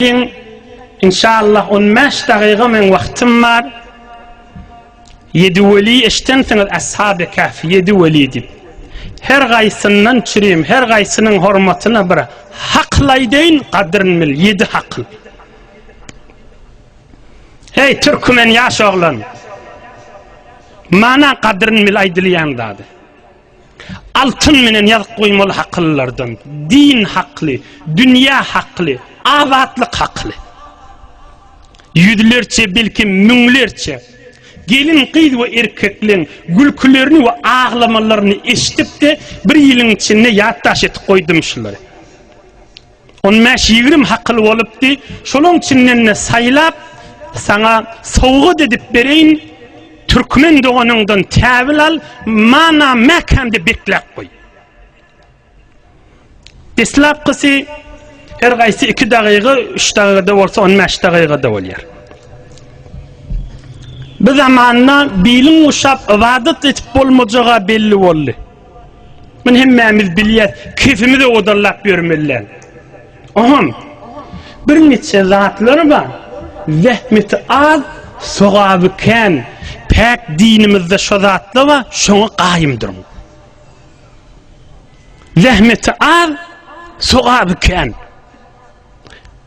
Geliň, inşallah, on bäş dagyga meň wagtym bar. Ýedi weli eşidensiňiz, Ashaby Kahf, ýedi weli diýip. Her gaýsyndan çürim, her gaýsynyň hormatyna bir hakyl aýdaýyn, gadryny bil, ýedi hakyl. Hey türkmen ýaş oglan. Mana gadryn bil aýdylýan zady. Altyn menen ýazyp goýmaly haklylardan, din hakly, dünýä hakly, azatlyk hakly. Ýüzlerçe, belki müňlerçe gelin gyz we erkekleň gülkülerini we aglamalaryny eşidip-de, bir ýylyň içinde ýatdaş edip goýdum şulary. On bäş ýigrimi hakyl bolupdy. Şolaň içinden-de saýlap, saňa sowgat edip bereýin. Türkmen doganyňdan täwil al, mana mäkämde bekläp goý. Deslapkysy her gaýsy iki dagyga, üç dagyga-da bolsa, on bäş dagyga-da bolýar. Bu zamanda bilin uşap, ybadat edip bolmajaga belli boldy. Muny hemmämiz bilýäs, kesimiz odallap ýörmeliler. Oňam birniçe zatlar bar, zähmeti az, sogaby kän. Päk dinimizde şo zatlar bar, şoňa gaýym duruň. Zähmeti az, sogaby kän.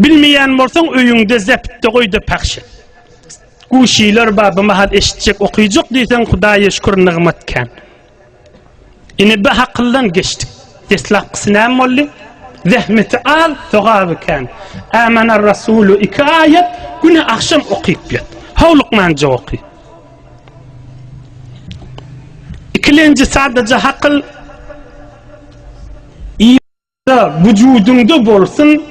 Bilmeýän bolsaň öýüňde zeptde goýda pahş et. Guşylar bar bu mahal eşitjek okyjak diýseň Hudaýa şükür nygmat kän. Ine bi hakyldan geçdik. Deslapkysy näme boldy? Zähmeti al, sogaby kän. Ämener Rasulu iki aýat güne agşam okyp ýat. Howlukmanja oky. Ikilenji sadaja hakyl Da wujudyňda bolsun,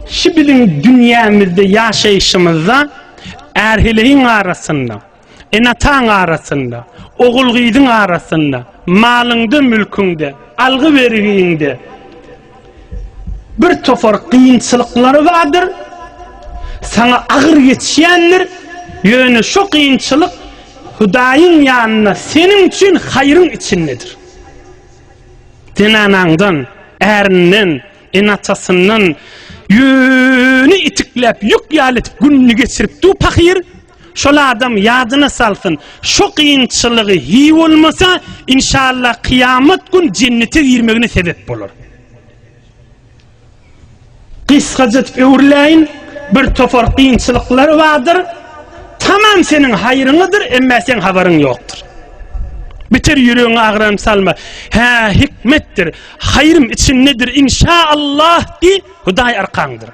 şu biziň dünýämizde ýaşaýşymyzda är-heleýiň arasynda, ene-ataň arasynda, ogul-gyzyň arasynda, malyňda-mülküňde, algy-bergiňde bir topar kynçylyklar bardyr, saňa agyr geçýändir, ýöne şo kynçylyk Hudaýyň ýanynda seniň üçin haýryň içindedir. Zenanaňdan, ärinden, ene-atasyndan ýüni itikläp, ýük ýaly edip gününi geçiripdi-u pahyr. Şol adam ýadyna salsyn, şo kynçylygy hi bolmasa, inşallah, kyýamat gün jennete girmegine sebep bolar. Gysgaja edip öwrüläýin, bir topar kynçylyklar bardyr, tamam seniň haýryňadyr, emma seň habaryň ýokdur. Biter ýüregiňi agram salma. Hä, hikmetdir, haýrym içindedir, inşa Allah diý, Hudaý arkaňdyr.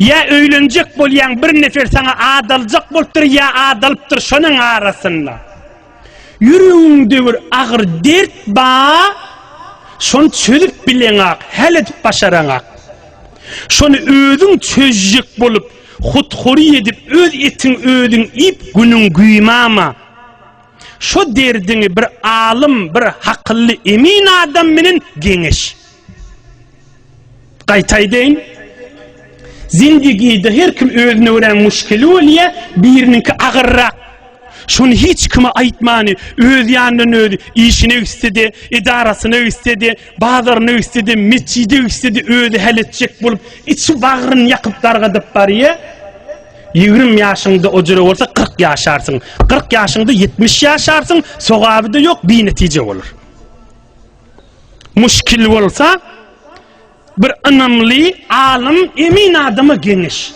Ýa öýlenjek bolýaň bir nefer saňa adaljak bolupdyr ýa adalypdyr şonuň arasynda. Ýüregiňde bir agyr dert ba, şony çözüp bileňak, häl edip başaraňak. Şony özüň çözjek bolup, huthury edip öz etiň özüň iýip günüň güýmama. Şo derdiňi bir alym, bir hakylly emin adam bilen geňeş. Gaýtaýdyn. Zindigide her kim özüne görä muşkili bolýa, biriniňki agyrrak. Şuny hiç kime aýtmany, öz ýanyndan özi, işine gitse-de, edarasyna gitse-de, bazaryna gitse-de, metjide gitse-de özi häl etjek bolup, içi bagryny ýakyp dargadyp barýa. Ýigrimi ýaşyňda ojra bolsa, kyrk ýaşarsyň. Kyrk ýaşyňda ýetmiş ýaşarsyň, sogaby-da ýok, binetije bolar. Muşkil bolsa bir ynamly alym emin adama geňeş.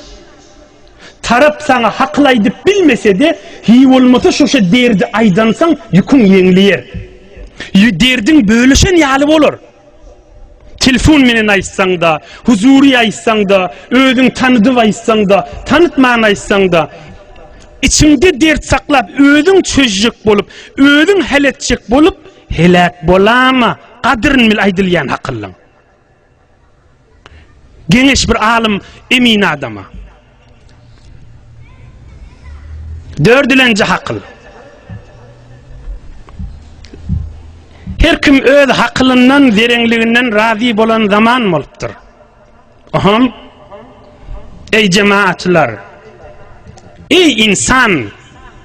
Tarap saňa hakyl aýdyp bilmesede hiý bolmasa şuşa derdi aýdansaň ýüküň ýeňleýer. Ýü derdiň bölüşen ýaly bolar. Telefon menen aýtsaňda, huzury aýtsaňda, özüň tanydyp aýtsaňda, tanytman aýtsaňda içiňde dert saklap özüň çözjek bolup, özüň hal etjek bolup Heläk bolama gadyryn bil aýdylýan hakyllyň. Geňeş bir alym emin adama. Dördülenji hakyl. Her kim öz hakylyndan, zerenliginden razy bolan zaman bolupdyr. Aham. Ey cemaatlar. Ey insan.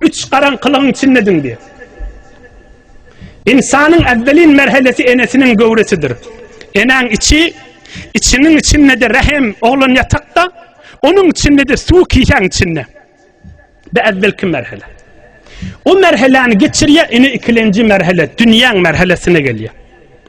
Üç garaňkylygyň içinde diňdi. Ynsanyň äwwelin merhelesi enesiniň göwresidir. Enäň içi, içiniň içinde-de rähem, oglan ýatakda, onuň içinde-de suw kisäň içinde. Bu äwwelki merhele. O merheläni geçirýär, ine ikilenji merhele, dünýäň merhelesine gelýär.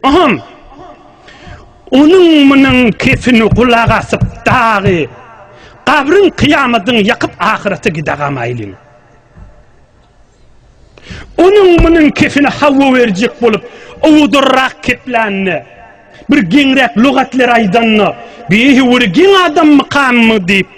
Aham! Onuň-munuň kepini gulak asyp dagy gabryň kyýamadyňy ýakyp ahyrete gidäga maýlyň. Onuň-munuň kepini hawa berjek bolup owudurrak keplände, bir geňräk lugatlar aýdanda, Bihi wuri geň adam mykammy diýip,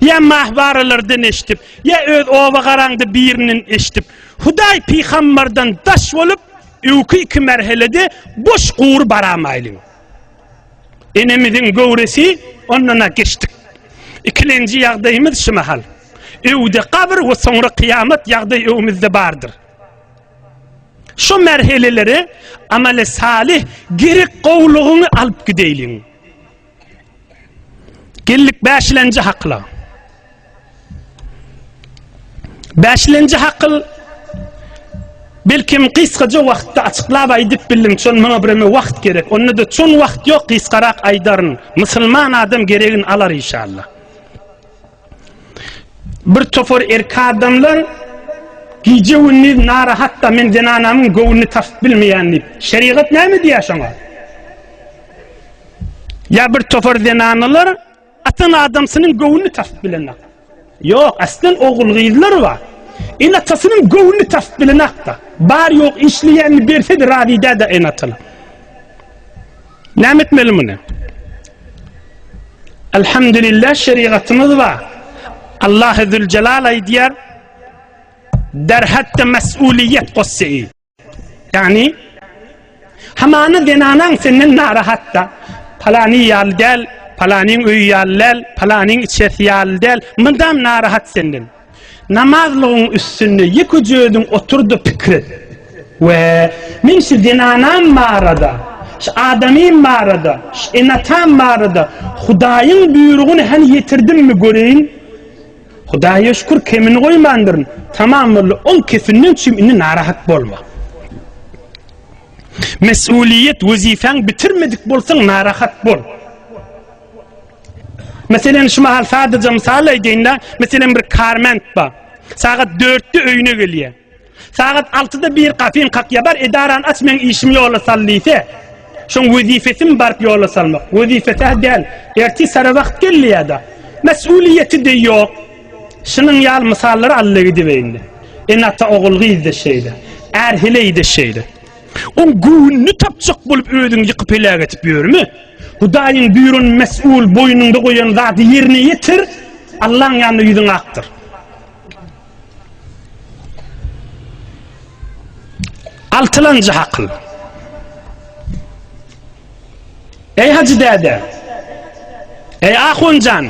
Ýa mahwaralardan eşdip, ýa öz oba garaňda birinden eşdip, Hudaý pygambardan daş bolup, öwki iki merhelede boş gury baramaýlyň. Enemiziň göwresi ondan-a geçdik. Ikilenji ýagdaýymyz şu mahal. Öwde gabyr we soňra kyýamat ýagdaý öwümizde bardyr. Şu merheleleri amale salih gerek gowlugyňy alyp gideýliň. Geldik bäşilenji hakyla. Bäşilenji hakyl belkim gysgaja wagtda açyklap aýdyp bildim, çon maňa bireme wagt gerek. Onda da çon wagt ýok, gysgarak aýdaryn. Musulman adam geregini alar inşallah. Bir topar erkek adamlar gije gündiz narahatda men zenanamyň göwnüni tapyp bilmeýän diýip. Şerigat näme diýýär şoňa? Ýa bir topar zenanlar atan adamsynyň göwnüni tapyp bilenok. Ýok, aslan ogul gyzlar bar. Ene atasynyň göwnüni tapyp bilenok da. Bar ýok işleýänini berse-de razy däde ene atana. Näme etmeli muny? Elhamdülillah şerigatymyz bar. Allah Azze Celal aýdýar: "Derhatda mesuliyet gossy." Yani hamana zenanan senden narahatta. Palany ýaly däl, palanyň öýi ýaly däl, palanyň içersi ýaly däl. Mydam narahat senden. Namazlygyň üstünde ýekeje özüň otur-da pikir et. We, men şu zenanam barada, şu adamym barada, şu ene-atam barada Hudaýyň buýrugyny hany ýetirdimmi göreýin? Hudaýa şükür, kemini goýmandyryn. Tamam boldy, oň kefinden çüm indi narahat bolma. Mesulyýet wezipäň bitirmedik bolsaň narahat bol. Meselem, şu mahal sadaja mysal aýdaýyn-da, meselem, bir karment bar. Sagat dörtde öýüne gelýär. Sagat altyda bir gapyny kakýar, bar, edarany aç, meň işimi ýola sal diýse, şoň wezipesimi baryp ýola salmak? Wezipesi-hä däl, ertir sara wagt gelýär-de. Mesulyýeti-de ýok. Şunuň ýaly mysallary allygidibeýin-de. Ene-ata ogul-gyz-da şeýle. Är heleý-de şeýle. Oň göwnüni tapjak bolup özüňi ýykyp heläk edip ýörme? Hudaýyň buýran mes'ul boýnuňda goýan zady ýerine ýetir, Allaň ýanynda ýüzüň akdyr. Altylanjy hakyl. Eý Hajy däde. Eý Ahunjan.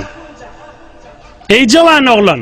Eý jawan oglan.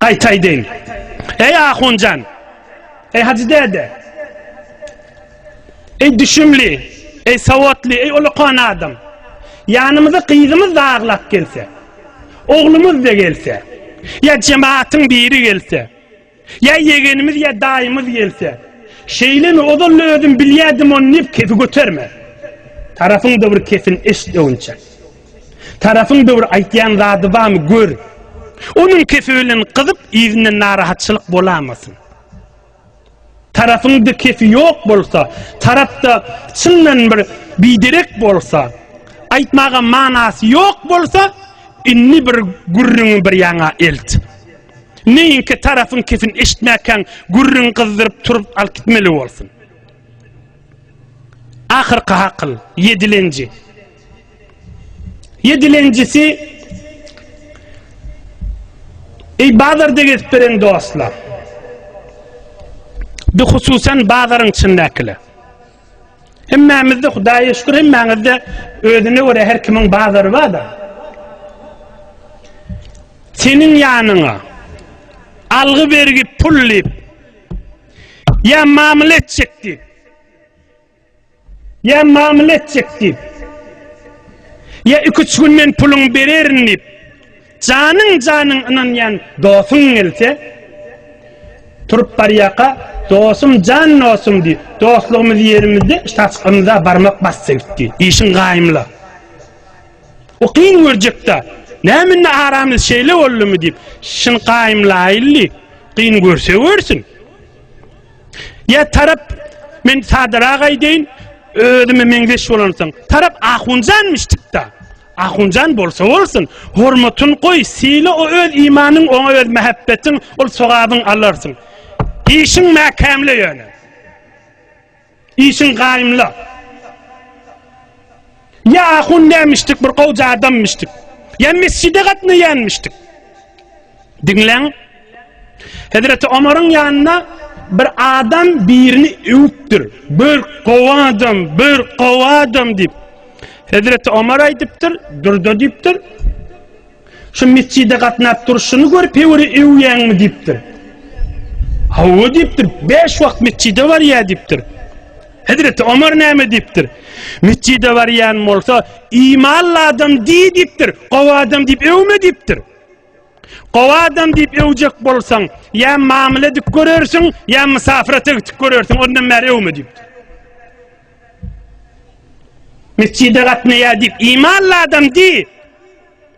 Gaýtaýdyn. Eý ahunjan. Eý hajy däde. Eý düşümli. Eý sowatly, eý ulukan adam. Ýanymyza gyzymyz da aglap gelse. Oglumyz da gelse. Ýa jemaatyň biri gelse. Ýa ýegenimiz ýa daýymyz gelse. Şeýlemi ozal özüm bilýädim ony diýip kefi göterme. Tarapyň da bir kefin eşit öňçe. Tarapyň döwür aýtýan zady bamy gör. Onuň kefi bilen gyzyp yzyndan narahatçylyk bolamasyn. Tarapyňda kefi ýok bolsa, tarapda çyndan bir biderek bolsa, aýtmaga manasy ýok bolsa, indi bir gürrüňi bir ýana elt. Neýinki tarapyň kefini eşitmäkäň gürrüň gyzdyryp turup alyp gitmeli bolsun. Ahyrky hakyl, ýedilenji. Ýedilenjisi, Eý bazarda gezip beren dostlar! Bihususan bazaryň içindäkiler. Hemmämizde Hudaýa şükür, hemmäňizde özüne görä her kimiň bazary bar-da. Seniň ýanyňa algy-bergi pul diýip, ýa mamla etjek diýip, Ýa mamla etjek diýip. Ýa iki-üç gün men puluňy bererin diýip. Janyň-janyň ynanýan dostuň gelse, turup barýaka, dostum jan dostum diýip, dostlugymyzy ýerimizde şahs ymza barmak basdy gitdi. Işiň gaýymla. O kyn görjek-de, näme indi aramyz şeýle boldumy diýip, şyny gaýymlaýyldy. Kyn görse görsün. Ýa tarap men sadarak aýdaýyn, özüme meňzeş bolansoň, tarap ahunjanmyşdykda. Ahunjan bolsa bolsun, hormatyn goý, syla o öz imanyň, oňa öz mähebbetiň, ol sogabyň alarsyň. Işiň mäkämle ýöne. Işiň gaýymla. Ýa ahun nämişdik bir gowja adammişdik. Ýa mesjide gatnaýanmişdik. Diňläň. Hezreti Omaryň ýanyna bir adam birini öwüpdir. Bir gowy adam, bir gowy adam diýip. Hezreti Omar aýdypdyr, durda diýipdir. Şu metjide gatnap durşuny görüp hewiri öwýäňmi diýipdir. Hawa diýipdir, beş wagt metjide barýa diýipdir. Hezreti Omar näme diýipdir? Metjide barýan bolsa, imanly adam diý diýipdir, gowy adam diýip öwme diýipdir. Gowy adam diýip öwjek bolsaň, ýa mamla edip görersiň, ýa mysafira tegtik görersiň, ondan bäri öwme diýipdir. Mesjide gatnaýar diýip imanly adam diý.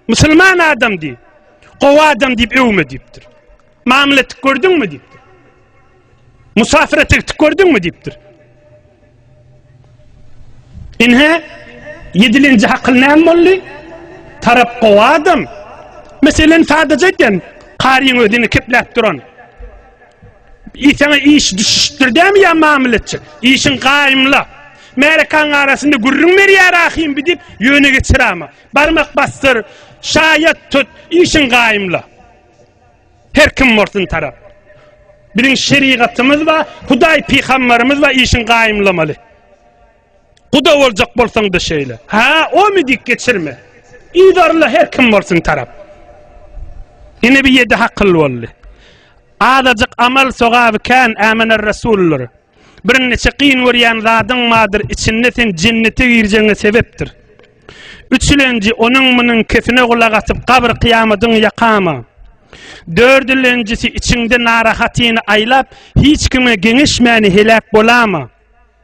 Musulman adam diý. Gowy adam diýip öwme diýipdir. Mamla etip gördüňmi diýipdir. Musafir etip gördüňmi diýipdir. Inhe yedilinci hakyl näme boldy? Tarap gowy adam. Meselen sadece eden Karyň özüni kepläp duran. Iý saňa iş düşüşdir dämi ýa mamletçik. Işiň gaýymla. Märekaň arasynda gürrüň berýär ahym bi diýip ýöne geçirama. Barmak basdyr, şaýat tut, işiň gaýymla. Her kim bolsun tarap. Biziň şerigatymyz bar, Hudaý pygambarymyz bar işiň gaýymlamaly. Guda boljak bolsaňda şeýle. Ha, o mi dik geçirme. Idarla her kim bolsun tarap. Ine bir yedi hakyl boldy. Azajyk amal sogaby kän ämener resullar. Bir neçe kyn görýän zadyň madyr içinde sen jennete girjeňe sebepdir. Üçülenji onuň munuň kesine gulak atyp kabr kıyamadyň yakama. Dördülenjisi içinde narahatyny aylap hiç kime genişmäni helak bolama.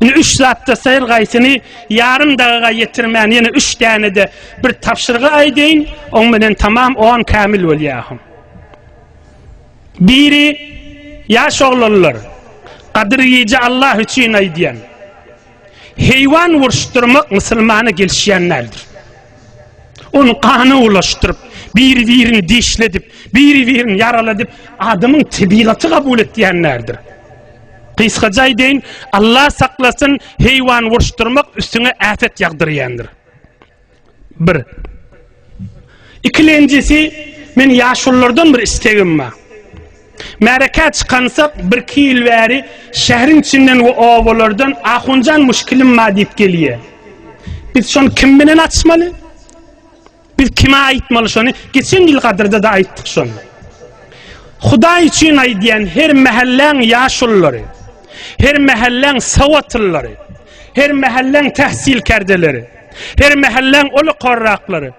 Indi üç zatda sayr gaýsyny yarım daga yetirmän yine üç tane de bir tapşyrgy aýdaýyn, on bilen tamam on kamil bolýahym. Biri yaş oglanlar gadyr ýeje Allah üçin aýdýan. Heýwan uruşdyrmak musulmana gelişýän däldir. Onu gana ulaşdyryp, bir-birini dişledip, bir-birini yaraladyp, adamyň tebigaty kabul etýänlerdir. Gysgaça aýdaýyn, Allah saklasyn, heýwan uruşdyrmak üstüňe äpet ýagdyrýandyr. Bir. Ikilenjisi, men ýaşululardan bir istegim bar. Märekä çykansak, birki ýyl bäri şäheriň içinden we obalardan Ahunjan muşkilim bar diýip gelýär. Biz şony kim bilen açmaly? Biz kime aýtmaly şony? Geçen ýyl gadyrda-da aýtdyk şony. Hudaý üçin aýdýan her mähelläň ýaşullary, her mähelläň sawatlyllary, her mähelläň tähsil kärdeleri, her mähelläň uly korraklary.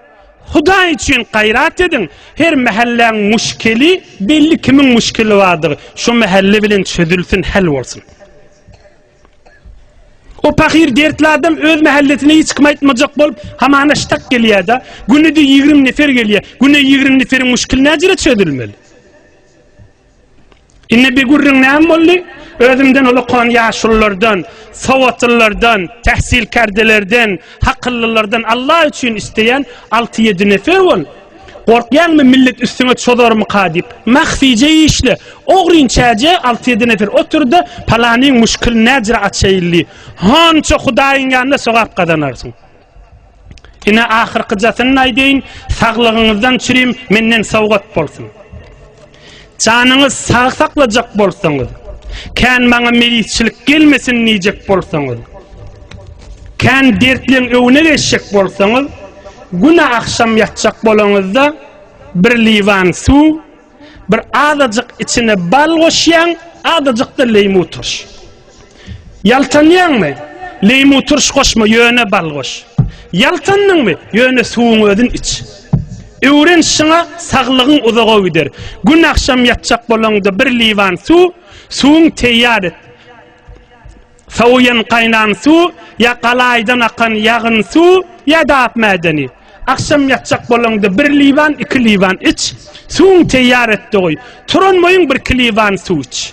Hudaý üçin gaýrat ediň, her mähelläň müşkili, belli kimiň müşkili bardygy, şu mähelle bilen çözülsin, hal bolsun. O pahyr dertli adam öz mähellesine hiç kim aýtmajak bolup, hamana ştak gelýär-de, günüde ýigrimi nefer gelýär. Güne ýigrimi neferiň muşkili näjere çözülmeli? Indi bir gürrüň näme boldy? Özümden uly kon ýaşululardan, sowatlylardan, tähsilkärdelerden, hakyllylardan Allah üçin isteýän alty-ýedi nefer bol. Gorkýaňmy millet üstüňe çozarmyka diýip. Mahfije işle. Ogryn çäje alty ýedi nefer oturdy, palanyň muşkylny näjra açaýyldy. Hança hudaýyň ýanynda sogap gazanarsyň. Ine ahyrkyjasyny aýdaýyn, saglygyňyzdan çürim menden sowgat bolsun. Janyňyz sag saklajak bolsaňyz, kän maňa meýisçilik gelmesin diýjek bolsaňyz, kän dertleň öwüne geçjek bolsaňyz, güne agşam ýatjak bolaňyzda bir liwan suw, bir azajyk içine bal goşýaň, azajyk-da leýmu turşy. Ýaltanýaňmy? Leýmu turş goşma, ýöne bal goş. Ýaltandyňmy? Ýöne suwuň özün iç. Öwren şyňa, saglygyň uzaga gider. Gün agşam ýatjak bolaňda bir liwan suw, suwuň teýýar et. Sowuýan gaýnan suw, ýa galaýdan akan ýagyn suw, ýa-da ak mädeni. Agşam ýatjak bolaňda bir liwan, iki liwan iç. Suwuň teýýar etde goý. Turan boýuň bir kiliwan suw iç.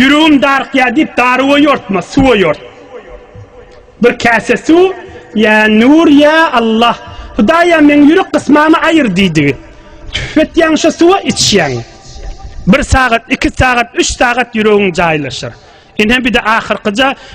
Ýüregim darykýar diýip darywa ýortma, suwa ýort. Bir käse suw, ýa Nur, ýa Allah, Hudaýam meň ýürek gysmamy aýyr diýdigi. Tüp etýäň şo suwa, içýäň. Bir sagat, iki sagat, üç sagat ýüregiň jaýlaşar. Ine bir-de ahyrkyja